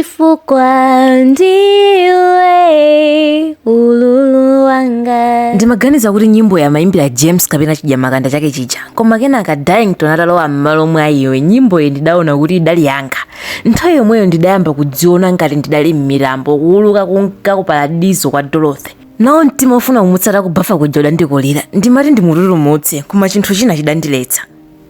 chifukwa ndiwe ululu wanga ndimaganiza kuti nyimboyi amayimbira james kapena chidyamakanda chake chija koma kenaka darlington atalowa m'malo mwa iwe nyimboyi ndidaona kuti idali yanga nthawi yomweyo ndidayamba kudziona ngati ndidali m'mitambo kuuluka kunka ku paradizo kwa dorothy nawo mtima ofuna kumutsata kubafa kuja udandikolera ndimati ndimututumutse koma chinthu china chidandiletsa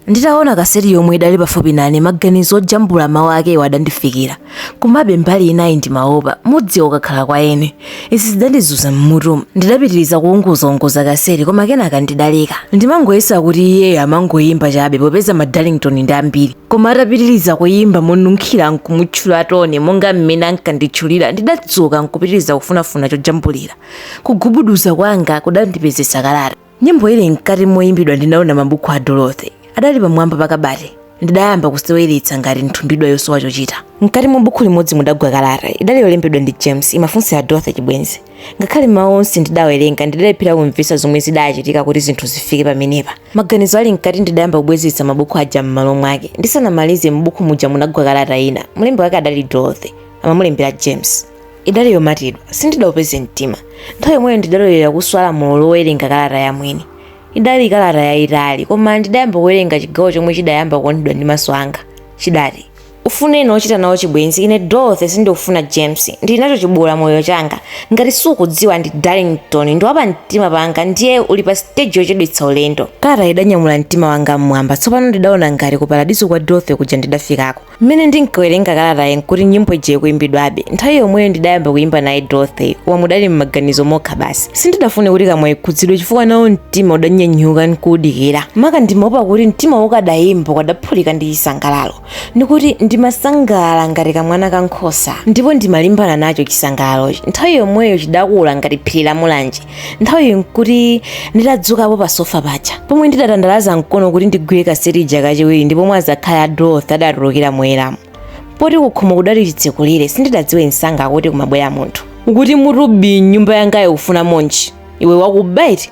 Nditaona kaseti yomwe idali pafupi nane maganizo ojambula mawu akewo adandifikira. Komabe mbali inayi ndimaopa, mudziwa ukakhala kwa eni. Izi zidandizunza m'mutumu. Ndidapitiriza kuunguzaunguza kaseti koma kenaka ndidaleka. Ndimangoyesa kuti iyeyo amangoimba chabe popeza ma Darlington ndi ambiri. Koma atapitiriza kuimba monunkhira n'kumutchula Tony monga mmene ankanditchulira ndidadzuka n'kupitiriza kufunafuna chojambulira. Kugubuduza kwanga kudandipezetsa kalata. nyimbo ili mkati moyimbidwa ndinaona mabuku a dorothy adali pamwamba pa kabati ndidayamba kuseweretsa ngati nthumbidwa yosowa chochita mkati mwa buku limodzi mudagwa kalata idali yolembedwa ndi james imafunsira dorothy chibwenzi ngakhale mawu onse ndidawerenga ndidalephera kumvetsa zomwe zidachitika kuti zinthu zifike pamenepa maganizo ali mkati ndidayamba kubwezetsa mabuku aja m'malo mwake ndisanamalize m'buku muja munagwa kalata ina mlembi wake adali dorothy amamulembera james idali yomatidwa sindidaupeze mtima nthawi yomweyo ndidalolera kuswa lamulo lowerenga kalata ya mwini idali kalata yayitali koma ndidayamba kuwerenga chigawo chomwe chidayamba kuonedwa ndi maso anga chidati ufune ena ochita nawo chibwenzi ine dorothy sindikufuna james ndili nacho chiboola moyo changa ngati sukudziwa ndi darlington ndi wapa mtima panga ndiye uli pa stage yochedwetsa ulendo kalata idanyamula mtima wanga mmwamba tsopano ndidaona ngati ku paradiso kwa dorothy kuja ndidafikako Mmene ndinkawerenga kalatayi nkuti nyimbo ija ikuimbidwabe. Nthawi yomweyo ndidayamba kuimba naye Dorothy, koma mudali m'maganizo mokha basi. Sindidafune kuti kamwa ikhudzidwe chifukwa nawo mtima udanyanyuka nkuudikira. Maka ndimaopa kuti mtimawo ukadayimba ukadaphulika ndi chisangalalo. Ndikuti ndimasangalala ngati kamwana ka nkhosa ndipo ndimalimbana nacho chisangalalochi. Nthawi yomweyo chidakula ngati phiri la Mulanje. nthawiyi nkuti nditadzukapo pa sofa paja pomwe ndidatandalaza mkono kuti ndigwire kaseti ija kachiwiri ndi pomwe azakhali a dorothy adatulukira moyeramu poti kukhomo kudali chitsekulire sindidadziwe msanga kuti kumabwera munthu ukuti mutu bii mnyumba yangayo ukufunamonji iwe wakuba eti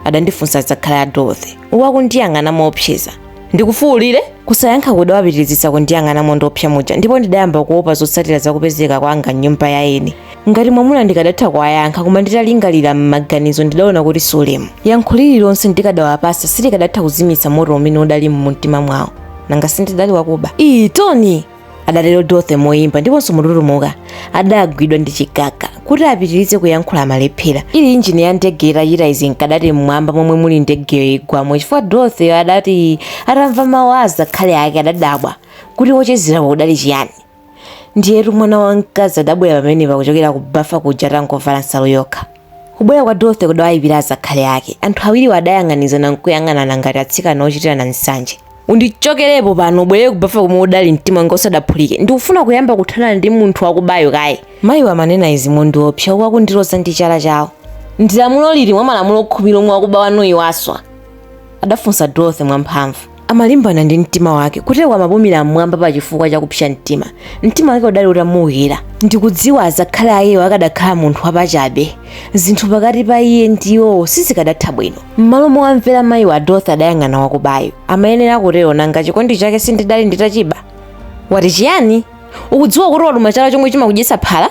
adandifunsa azakhali a dorothy akundiyang'ana moopseza ndikufuulire kusayankha kudawapitirizitsa kundiyang'ana mondiopsa muja ndipo ndidayamba kuopa zotsatira zakupezeka kwanga mnyumba ya eni ngati mwamuna ndikadatha kuwayankha koma nditalingalira m'maganizo ndidaona kuti si ulemu yankho lililonse ndikadawapasa silikadatha kuzimitsa moto umene udali mumtima mwawo nanga sindidali wakuba ii tony adatero dorothy moyimba ndiponso motutumuka adagwidwa ndi chigaga kuti apitirize kuyankhula amalephera ili injini ya ndege itachita izi nkadati mmwamba momwe muli ndegeyo igwamo chifukwa dorothy adati atamva mawu a azakhali ake adadabwa kuti wochezerawo udali chiyani ndiyetu mwana wamkazi adabwera pamenepa kuchokera ku bafa kuja atangovala nsalu yokha kubwera kwa dorothy kudawayipira azakhali ake anthu awiriwo adayang'anizana nkuyang'anana ngati atsikana ochitirana nsanje undichokerepo pano ubwerere kubafa komwe udali mtima wanga usadaphulike ndikufuna kuyamba kuthana ndi munthu wakubayo kaye mayiwo amanena izi mondiopsa uku akundiloza ndi chala chawo ndi lamulo lili mwa malamulo khumi lomwe wakuba wanuyi waswa adafunsa dorothy mwamphamvu amalimbana ndi mtima wake kutero amapumira mmwamba pa chifukwa cha kupsa mtima mtima wake udali utamuwukira ndikudziwa azakhali akewo akadakhala munthu wapachabe zinthu pakati pa iye ndi iwowo sizikadatha bwino m'malo mowamvera mayiwo dorothy adayang'ana wakubayo amayenera kutero nanga chikondi chake sindidali nditachiba wati chiyani ukudziwa kuti waluma chala chomwe chimakudyetsa phala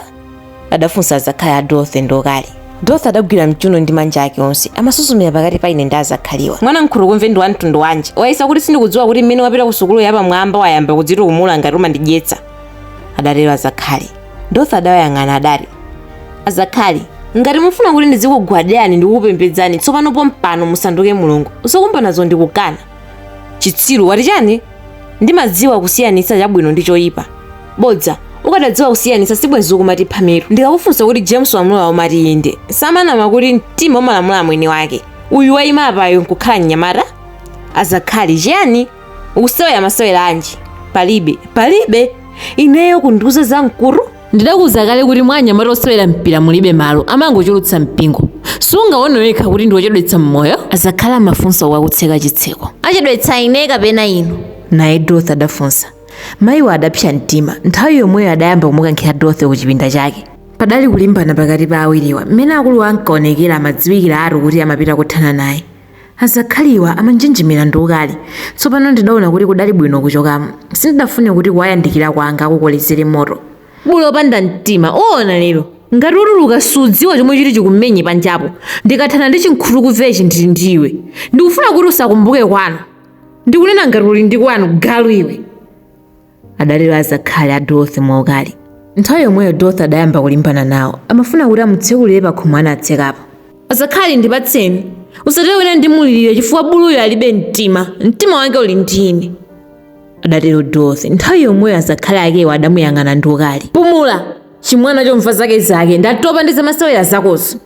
adafunsa azakhali a dorothy ndi ukali dorothy adagwira mchuno ndi manja ake onse amasuzumira pakati pa ine ndi azakhaliwa mwana nkhutukumve ndi wamtundu wanji wayesa kuti sindikudziwa kuti mmene wapita ku sukulu yapamwamba wayamba kudzitukumula ngati umandidyetsa adatero azakhali dorothy adawayang'ana adati azakhali ngati mufuna kuti ndizikugwadirani ndi kukupembedzani tsopano pompano musanduke mulungu usakumba nazo ndikukana chitsiru wati chani ndimadziwa kusiyanitsa chabwino ndi choyipa bodza ukadadziwa kusiyanitsa sibwenzi ukumatipha mitu ndikakufunsa kuti james wamulola umati inde samanama kuti mtima umalamula mwini wake uyu wayima apayo nkukhala mnyamata azakhali chiyani ukusewera masewera anji palibe palibe ineyo kundiuza zamkutu ndidakuuza kale kuti mwa anyamata osewera mpira mulibe malo amangochulutsa mpingo sungaone wekha kuti ndiwochedwetsa mmoyo azakhali amafunsa uku akutseka chitseko achedwetsa ine kapena inu naye dorothy adafunsa Mayiwo adapsa mtima. Nthawi yomweyo adayamba kumukankhira Dorothy kuchipinda chake. Padali kulimbana pakati pa awiriwa. Mmene akuluwa ankaonekera amadziwikiratu kuti amapita kothana naye. Azakhaliwa amanjenjemera ndi ukali. Tsopano ndidaona kuti kudali bwino kuchokamo. Sindidafune kuti kuwayandikira kwanga kukolezere moto. Bulu wopanda mtima, uona lero! Ngati utuluka sudziwa chomwe chiti chikumenye panjapo. Ndikathana ndi chinkhutukumvechi ndili ndi iwe. Ndikufuna kuti usakumbuke kwanu. ndikunena ngati uli ndi kwanu galu iwe adatero azakhali a dorothy mwaukali nthawi yomweyo dorothy adayamba kulimbana nawo amafuna kuti amutsekulire pakhomo anatsekapo azakhali ndipatseni usatero wina ndimulirire chifukwa buluyo alibe mtima mtima wake uli ndi ine adatero dorothy nthawi yomweyo azakhali akewo adamuyang'ana ndi ukali pumula chimwana chomva zake zake ndatopa ndi zamasewera zakozo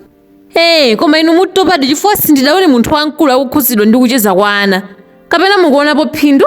ee koma inu mutopadi chifukwa sindidaone munthu wamkulu akukhudzidwa ndi kucheza kwa ana kapena mukuonapo phindu